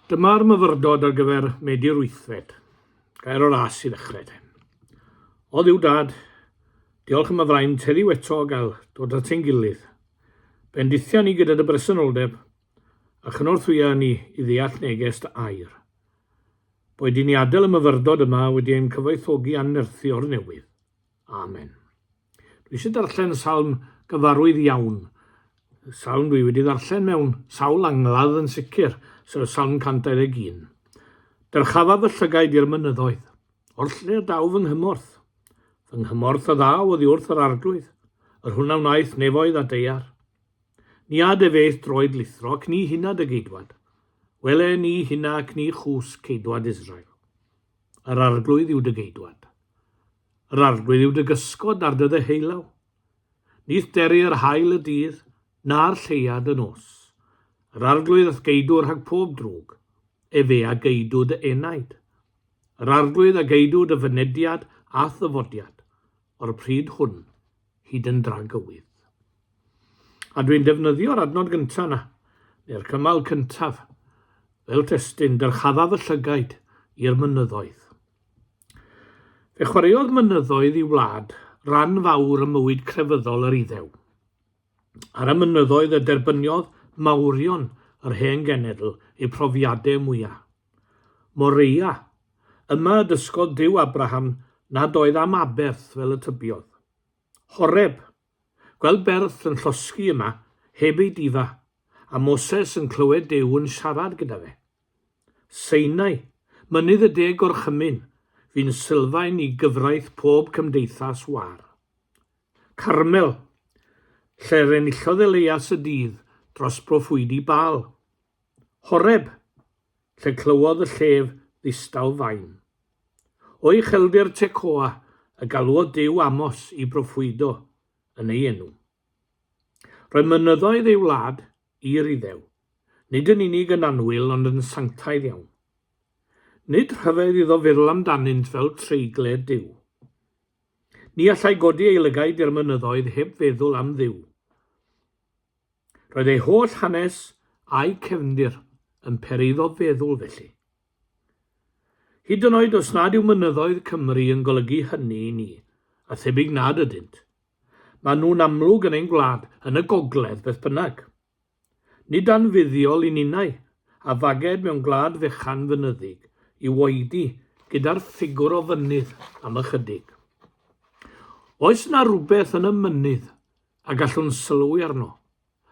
Dyma'r myfyrdod ar gyfer medi'r wythfed. Gair o ras i ddechrau te. O ddiw dad, diolch am y fraint heddiw eto o gael dod at ein gilydd. Bendithia ni gyda dy bresenoldeb a chynorthwya ni i ddeall neges dy air. Boed i ni adael y myfyrdod yma wedi ein cyfoethogi annerthu o'r newydd. Amen. Dwi eisiau darllen salm gyfarwydd iawn. Salm dwi wedi ddarllen mewn sawl angladd yn sicr, sef salm 121. Dyrchafa fy llygaid i'r mynyddoedd, o'r lle daw fy nghymorth. Fy nghymorth a ddaw oddi wrth yr arglwydd, yr hwnna wnaeth nefoedd a deiar. Ni ad efeith droed lithro ac ni hunad y geidwad. Wele ni hynna ac ni chws ceidwad Israel. Yr arglwydd yw dy geidwad. Yr arglwydd yw dy gysgod ar dy ddeheulo, nith deru yr haul y dydd, na'r lleuad y nos. Yr arglwydd a'th geidw rhag pob drwg, efe a geidw dy enaid. Yr arglwydd a geidw dy fynediad a'th ddyfodiad, o'r pryd hwn hyd yn dragywydd. A dwi'n defnyddio'r adnod gyntaf yna, neu'r cymal cyntaf, fel testyn, dyrchaddaf y llygaid i'r mynyddoedd. Fe chwaraeodd mynyddoedd i wlad ran fawr ym mywyd crefyddol yr Iddew. Ar y mynyddoedd y derbyniodd mawrion yr hen genedl eu profiadau mwyaf. Moreia, yma y dysgodd Duw Abraham nad oedd am aberth fel y tybiodd. Horeb, Gweld Berth yn llosgi yma heb ei difa, a Moses yn clywed Duw yn siarad gyda fe. Sinai, mynydd y De Gorchymyn, fu'n sylfaen i gyfraith pob cymdeithas war. Carmel, lle'r enillodd Elias y dydd dros broffwydi Baal. Horeb, lle clywodd y llef ddistaw fain. O ucheldir Tecoa y galwodd Duw Amos i broffwydo yn ei enw. Roedd mynyddoedd ei wlad i'r Iddew, nid yn unig yn annwyl ond yn sanctaidd iawn. Nid rhyfedd iddo feddwl amdanynt fel treigled Duw. Ni allai godi ei lygaid i'r mynyddoedd heb feddwl am Dduw. Roedd ei holl hanes a'i cefndir yn peri iddo feddwl felly. Hyd yn oed os nad yw mynyddoedd Cymru yn golygu hynny i ni, a thebyg nad ydynt. Maen nhw'n amlwg yn ein gwlad, yn y gogledd, beth bynnag. Nid anfuddiol i ninnau, a faged mewn gwlad fechan fynyddig, yw oedi gyda'r ffigwr o fynydd am ychydig. Oes 'na rywbeth yn y mynydd a gallwn sylwi arno,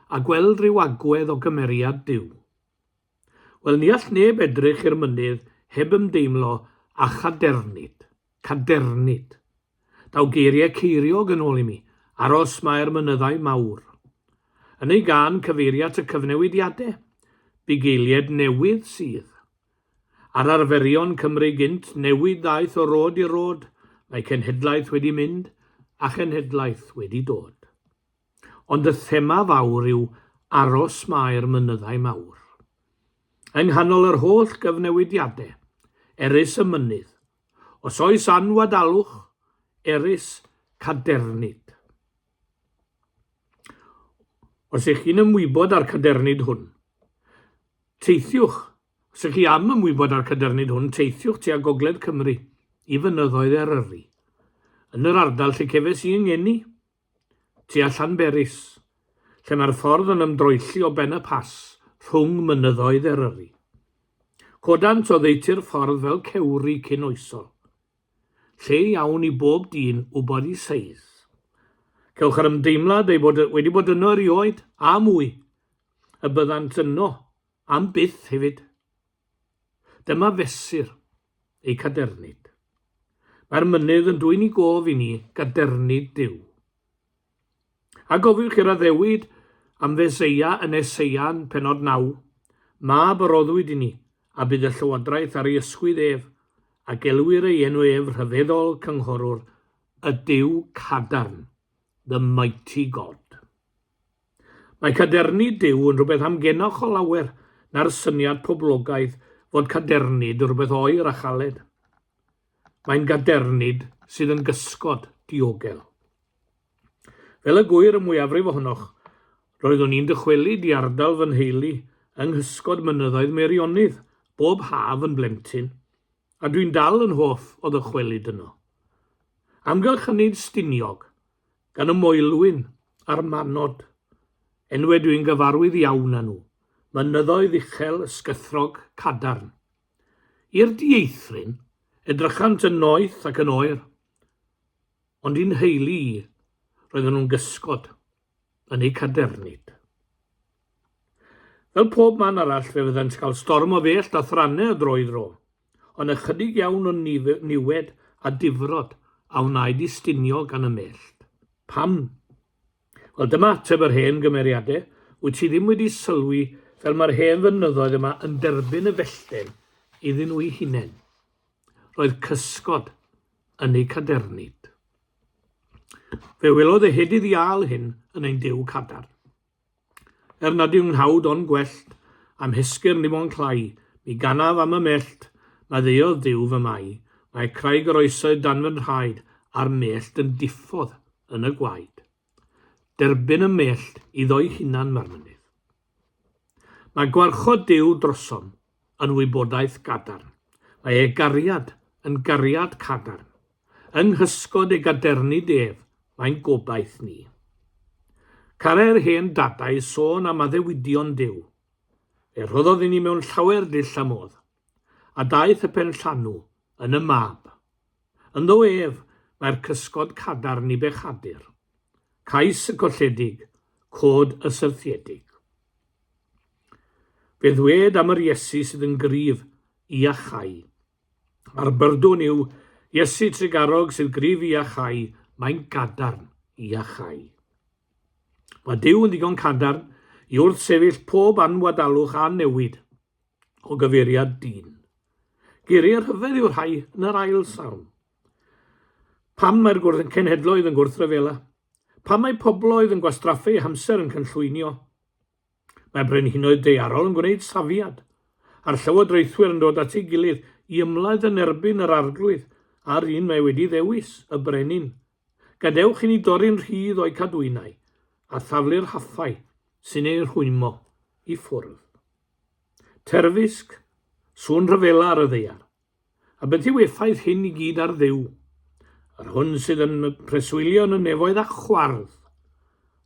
a gweld rhyw agwedd o gymeriad Duw? Wel, ni all neb edrych i'r mynydd heb ymdeimlo â chadernid. Cadernid. Daw geiriau ceiriog yn ôl i mi, aros mae'r mynyddau mawr. Yn ei gân cyfeiria at y cyfnewidiadau, bugeiliaid newydd sydd. Ar arferion Cymru gynt, newid ddaeth o rôd i rôd, mae cenhedlaeth wedi mynd a chenhedlaeth wedi dod. Ond y thema fawr yw aros mae'r mynyddau mawr. Yng nghanol yr holl gyfnewidiadau, erys y mynydd. Os oes anwadalwch, erys cadernid. Os ych chi'n ymwybod â'r cadernid hwn, teithiwch, os ych chi am ymwybod â'r cadernid hwn, teithiwch tua Gogledd Cymru i fynyddoedd Eryri, yn yr ardal lle cefes i yng ngeni, Tua Llanberis, lle mae'r ffordd yn ymdroelli o Ben y Pass rhwng mynyddoedd Eryri. Codant oddeutu'r ffordd fel cewri cyn oesol. Lle iawn i bob dyn wybod i seiz. Cewch yr ymdeimlad ei bod wedi bod yno erioed, a mwy, y byddant yno am byth hefyd. Dyma fesur. ei cadernid. Mae'r mynydd yn dwyn i gof i ni gadernid Duw. A gofiwch i'r addewid am Feseia yn Eseia'n penod 9, Mab a roddwyd i ni, a bydd y llywodraeth ar ei ysgwydd ef, a gelwir ei enw ef rhyfeddol cynghorwr, y Duw cadarn, the mighty God. Mae cadernid Duw yn rhywbeth amgenoch o lawer na'r syniad poblogaidd fod cadernid yn rhywbeth oer a chaled. Mae'n gadernid sydd yn gysgod, diogel. Fel y gwyr y mwyafrif ohonoch, roeddwn i'n dychwelyd i ardal fy nheulu yng nghysgod mynyddoedd Meirionydd bob haf yn blentyn. A dwi'n dal yn hoff o ddychwelyd yno. Amgylch hynny Stiniog, gan y Moelwyn a'r Manod. Enwe dwi'n gyfarwydd iawn â nhw, mynyddoedd uchel ysgythrog cadarn. I'r dieithryn, edrychant yn noeth ac yn oer. Ond i'n nheulu i, roedden nhw'n gysgod. yn eu cadernid. Fel pob man arall, fe fyddant cael storm o fellt a thrannau o dro i dro, ond ychydig iawn o niwed a difrod a wnaed i stinio gan y mellt. Pam? Wel, dyma ateb yr hen gymeriadau, wyt ti ddim wedi sylwi fel mae'r hen fynyddoedd yma yn derbyn y fellten iddyn nhw'i hunain. Roedd cysgod, yn eu cadernid. Fe welodd y hedydd iâl hyn yn ein dew cadarn. Er nad yw'n nghawd ond gwellt, am hesgyr ni mo'n clai, mi ganaf am y mellt, na ddeodd ddiw fy mai, mae craig yr oesoedd dan fy nhraed, a'r mellt yn diffodd yn y gwaed. Derbyn y mellt iddo'i hunan mae'r mynydd. Mae gwarchod Duw drosom yn wybodaeth gadarn. Mae ei gariad yn gariad cadarn. Yng nghysgod ei gadernid ef, mae'n gobaith ni. Carai'r hen dadau sôn am addewidion Duw. Fe rhoddodd i ni mewn llawer dull a modd. a daeth y penllanw yn y mab. Ynddo ef mae'r cysgod cadarn i bechadur, cais y colledig, cod y syrthiedig. Fe ddwed am yr Iesu sydd yn gryf i achau. A'r byrdwn yw, Iesu trugarog sydd gryf i achau, mae'n gadarn i achau. Mae Dyw yn ddigon cadarn i wrth sefyll pob anwadalwch a newid. o gyfeiriad dyn. Geiriau rhyfedd yw'r rhai yn yr ail salm. Pam mae'r gwrdd cenhedloedd yn gwrthryfela? Pam mae pobloedd yn gwastraffu eu hamser yn cynllwynio? Mae brenhinoedd deiarol yn gwneud safiad, a'r llywodraethwyr yn dod at ei gilydd i ymladd yn erbyn yr arglwydd a'r un mae wedi ddewis, y brenin, Gadewch i ni dorri'n rhydd o'u cadwynau a thaflu'r hathau sy'n eu rhwymo i ffwrdd. Terfysg, sŵn rhyfela ar y ddaear. A beth yw effaith hyn i gyd ar Dduw? Yr hwn sydd yn preswylio yn y nefoedd a chwardd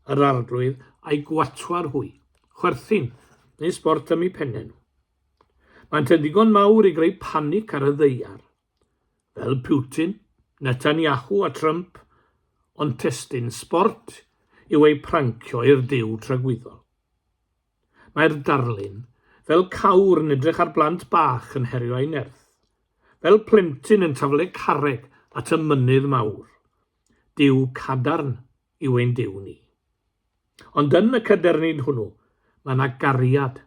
yr arglwydd a'i gwatwar hwy, chwerthin, neu sbort am eu pennau nhw. Maent yn ddigon mawr i greu panic ar y ddaear. fel Putin, Netanyahu a Trump, ond testun sbort yw eu prancio i'r duw tragwyddol. Mae'r darlun, fel cawr yn edrych ar blant bach yn herio ei nerth, fel plentyn yn taflu carreg at y mynydd mawr. Duw cadarn yw ein Duw ni. Ond yn y cadernid hwnnw, mae yna gariad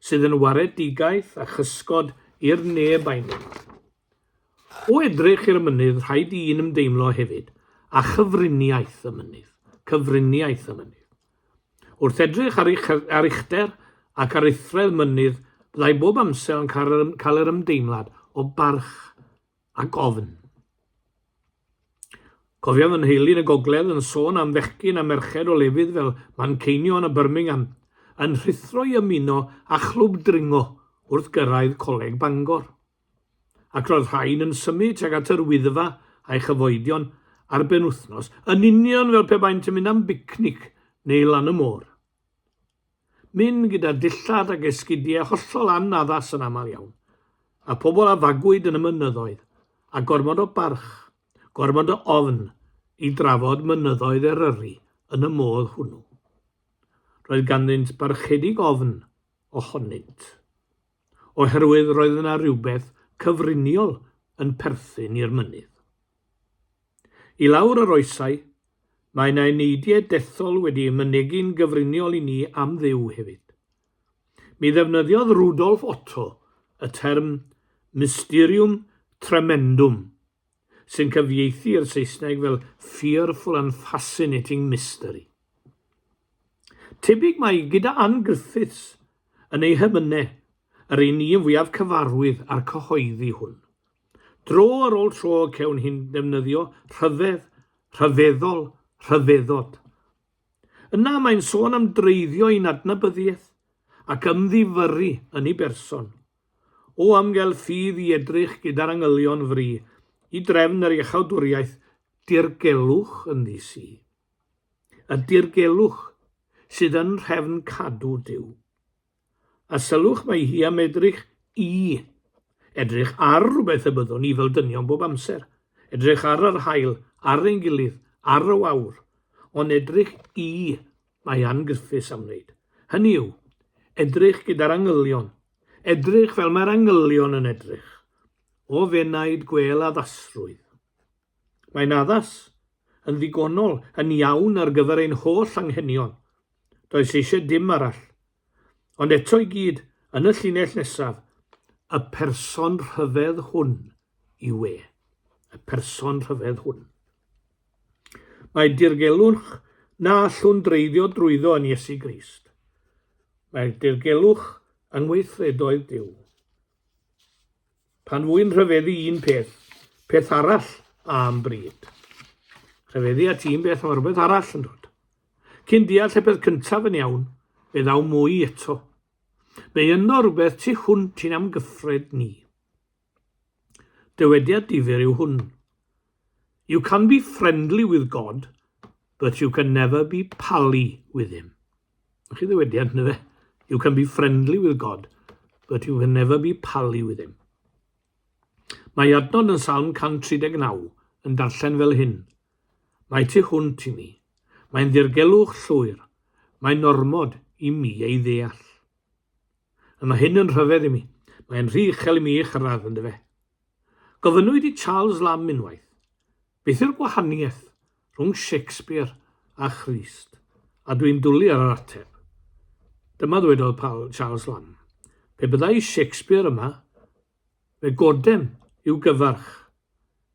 sydd yn waredigaeth a chysgod i'r neb a'i neb. O edrych i'r mynydd, rhaid i un ymdeimlo hefyd a chyfriniaeth y mynydd, cyfriniaeth y mynydd. Wrth edrych ar, eich, ar uchder ac ar uthredd mynydd, byddai bob amser yn cael yr ymdeimlad o barch ac ofn. Cofia fy nheulu yn y gogledd yn sôn am fechgyn a merched o lefydd fel Manceinion a Birmingham yn rhuthro i ymuno â chlwb dringo wrth gyrraedd Coleg Bangor. Ac roedd rhain yn symud tuag at yr Wyddfa a'i chyfoedion ar benwythnos, yn union fel pe baent yn mynd am bicnic neu lan y môr. Mynd gyda dillad ac esgidiau hollol anaddas yn aml iawn, a phobl a fagwyd yn y mynyddoedd, a gormod o barch, gormod o ofn i drafod mynyddoedd Eryri yn y modd hwnnw. Roedd ganddynt barchedig ofn ohonynt, oherwydd roedd yna rywbeth cyfriniol yn perthyn i'r mynydd. I lawr yr oesau, mae yna eneidiau dethol wedi'u mynegi'n gyfriniol i ni am Dduw hefyd. Mi ddefnyddiodd Rudolf Otto y term mysterium tremendum, sy'n cyfieithu i'r Saesneg fel fearful and fascinating mystery. Tebyg mae gyda Ann Griffiths yn ei hemynau yr un ni yn fwyaf cyfarwydd â'r cyhoeddi hwn. Dro ar ôl tro cewn hi'n defnyddio rhyfedd, rhyfeddol, rhyfeddod. Yna mae'n sôn am dreiddio i'n adnabyddiaeth ac ymddifyrru yn ei berson. O amgel ffydd i edrych gyda'r angylion fri i drefn yr iachawdwriaeth dirgelwch yn ddis i. Y dirgelwch sydd yn nhrefn cadw Duw. A sylwch mae hi am edrych i. Edrych ar rhywbeth y byddwn ni fel dynion bob amser. Edrych ar yr haul, ar ein gilydd, ar y wawr. Ond edrych i, mae Ann Griffiths am wneud. Hynny yw, edrych gyda'r angylion. Edrych fel mae'r angylion yn edrych. O fenaid gwel addasrwydd. Mae'n addas, yn ddigonol, yn iawn ar gyfer ein holl anghenion. Does eisiau dim arall. Ond eto i gyd, yn y llinell nesaf, y person rhyfedd hwn yw e. Y person rhyfedd hwn. Mae dirgelwch na allwn dreiddio drwyddo yn Iesu Grist. Mae'r dirgelwch yng ngweithredoedd Dyw. Pan fwy'n rhyfeddu un peth, peth arall am bryd. Rhyfeddu at un beth, mae rhywbeth arall yn dod. Cyn deall y peth cyntaf yn iawn, fe ddaw mwy eto. Mae yno rhywbeth tu hwnt i'n amgyffred ni. Dywediad difyr yw hwn. You can be friendly with God, but you can never be pally with him. Ych chi ddywediad, ynddo fe? You can be friendly with God, but you can never be pally with him. Mae adnod yn Salm 139 yn darllen fel hyn, Mae ti hwnt i mi. Mae'n ddirgelwch llwyr. Mae'n ormod i mi ei ddeall. A mae hyn yn rhyfedd i mi. Mae'n rhy uchel i mi ei chyrraedd, ynddo fe. Gofynnwyd i Charles Lamb unwaith, Beth yw'r gwahaniaeth rhwng Shakespeare a Christ? A dwi'n dwlu ar yr ateb. Dyma ddwedodd Paul Charles Lamb, Pe byddai Shakespeare yma, fe godem i'w gyfarch.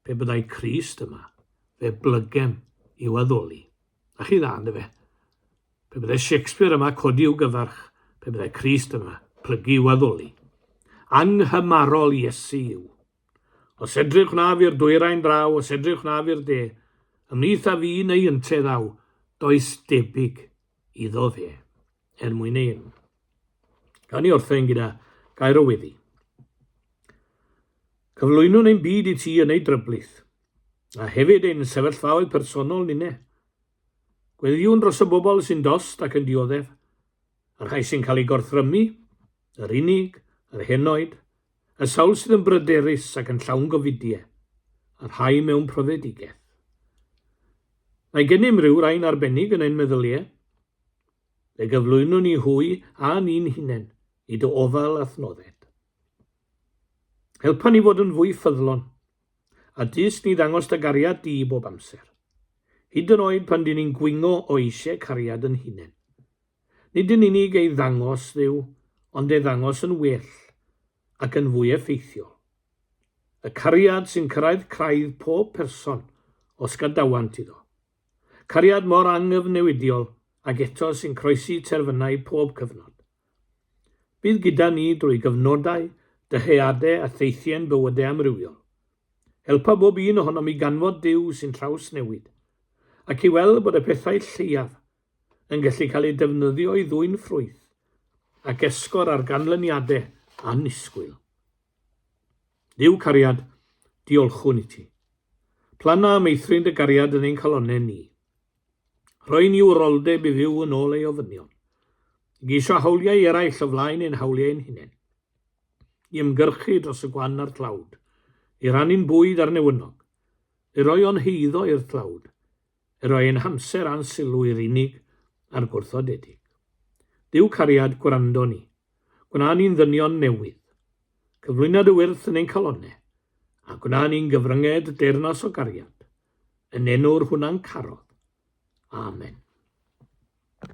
Pe byddai Crist yma, fe blygem i'w addoli. A chi dda, ynddo fe? Pe byddai Shakespeare yma, codi i'w gyfarch. Pe byddai Crist yma, plygu i'w addoli. Anghymarol Iesu yw. Os edrych naf i'r dwyrain draw, os edrych naf i'r de, ymhlith a fi neu yntedd aw, does debyg iddo fe, er mwyn ei enw. Gan i orffen gyda gair o weddi. Cyflwynwn ein byd i ti yn ei dryblyth, a hefyd ein sefyllfaoedd personol ninne. Gweddiwn dros y bobl sy'n dost ac yn dioddef, Y rhai sy'n cael eu gorthrymu, yr unig, yr henoed, y sawl sydd yn bryderus ac yn llawn gofidie, y rhai mewn profedigaeth. Mae gennym ryw rain arbennig yn ein meddylie. Fe gyflwyno ni hwy a ni'n hunen i dy ofal a thnodded. Helpa ni fod yn fwy ffyddlon, a dys ni ddangos dy gariad di bob amser, hyd yn oed pan dyn ni'n gwingo o eisiau cariad yn hunen. nid yn unig ei ddangos Dduw, ond ei ddangos yn well ac yn fwy effeithiol. Y cariad sy'n cyrraedd craidd pob person os gadawant iddo. Cariad mor angyfnewidiol ac eto sy'n croesi terfynau pob cyfnod. Bydd gyda ni drwy gyfnodau, dyheadau a theithie'n bywydau amrywiol. Helpa bob un ohonom i ganfod Duw sy'n trawsnewid, ac i weld bod y pethau lleiaf yn gallu cael eu defnyddio i ddwyn ffrwyth ac esgor ar ganlyniadau annisgwyl. Duw cariad, diolchwn i ti. Plana a meithrin dy gariad yn ein calonau ni. Rhoi ni wroldeb i fyw yn ôl ei ofynion. I geisio hawliau eraill o flaen ein hawliau ein hunain. I ymgyrchu dros y gwan a'r tlawd. I rannu'n bwyd ar newynog. I roi o'n heiddo i'r tlawd. Yr oedd ein hamser a'n sylw i'r unig a'r gwrthodedig. Duw cariad, gwrando ni. Gwna ni'n ddynion newydd. Cyflwyna dy wyrth yn ein calonne, a gwna ni'n gyfrynged deyrnas o gariad, yn enw'r Hwnancarodd. Amen.